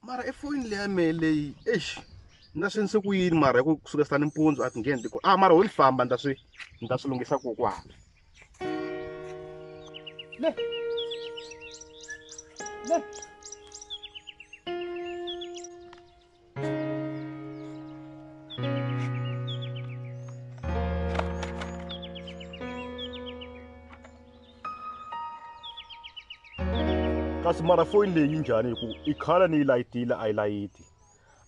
mara i foyini leya mehe leyi eish ni ta swi endlise ku yini mara hi ku suka sitani mpundzu a ti ngheni tiku a ah, mara ho ni famba ni ta swi ni ta swi lunghisa kokwana le le kasi mara foyini leyi yi njhani hi ku i khala ni yi layitile a yi layiti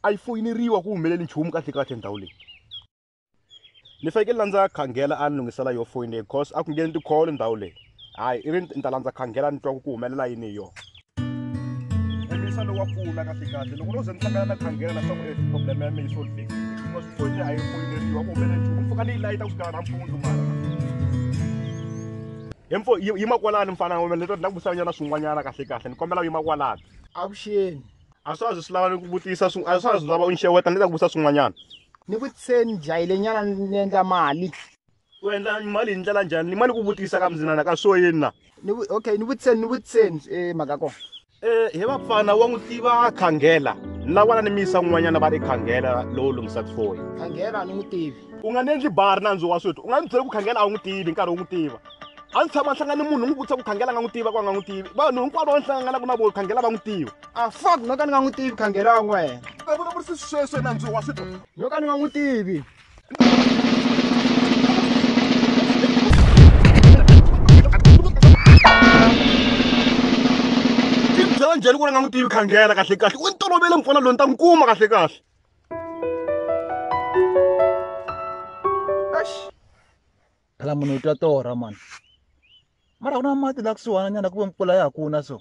a yi foyineriwa ku humeleli nchumu kahle kahle ndhawu leyi ni fanekele la ndza khangela a ni lunghisela yo foyini leyi because a ku ngheni tikholo ndhawu leyi hayi i ri ni ta landza khangela ni twa ku ku humelela yini hi yona Khomisa lowa pfula kahle kahle loko no ze ni hlangana na khangela na swaku problem ya mina yi solvekile hikuva swi foyini a yi foyineriwa ku humelele nchumu ni pfuka ni yi layita ku xikana nampundzu mara hemfo yima kwalani mfana wa mina leto ni la ku vutisanyana swin'wanyana kahle kahle ni kombela yima kwalani avuxeni a swa ha zi swi lava ni ku vutisa a swa ha zi lava u ni xeweta ni le ta ku vutisa swin'wanyana ni vutiseni jahile nyana ni endla mali ku endla mali hi ndlela njhani ni mali ku vutisa ka mzinana ka swo yini na okay ni vutiseni ni vutiseni e mhaka kona um he vapfana wa n'wi tiva khangela ni la vana ni mi yisa n'wanyana va ri khangela lowu lunghisa tifoyi khangela ni n'wi tivi u nga ni endli bari nandzu wa swethu u nga ni byela ku khangela a wu n'wi tivi nkarhi wu n'wi tiva a ndzi tshama hlangana ni munhu n'wi vutisa ku khangela nga n'wi tiva ku a nga n'wi tivi vanhu hinkwavo va ni hlanganaka na vona khangela va n'wi tiva a fak no ka ni nga n'wi tivi khangela wa n'wena a vulavurisi sweswi nandzu wa switwa no ka ni nga n'wi tivi byela njhani ku ri nga n'wi tivi khangela kahle kahle u ni tolovele mpfula loyi ni ta n'wi kuma kahle kahle phela munhu u twa torha mani mara ku na mati la kusuhana nyana ku ve mpfula ya ha kuna so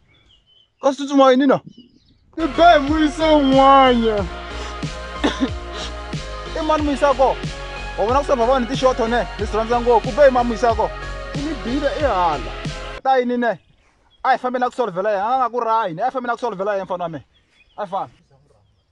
Constitution mwa nini? Ni be muise un'wana. I mani muisa ko? Wa vona ku sa vavani ti short one, ti swi rhandza ngopfu. Ku be i mani muisa ko? I ni bile i hala. Ta yini ne? A hi fambeni a ku solvela yena, a nga ku rahi, a hi fambeni a ku solvela yena mfana wa mina. A hi fambi.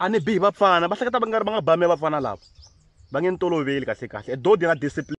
a ni bihi vapfana va hleketa va nga ri va nga ba mi ya vapfana lava va nge ni toloveli kahle kahle e dodi ra discipline.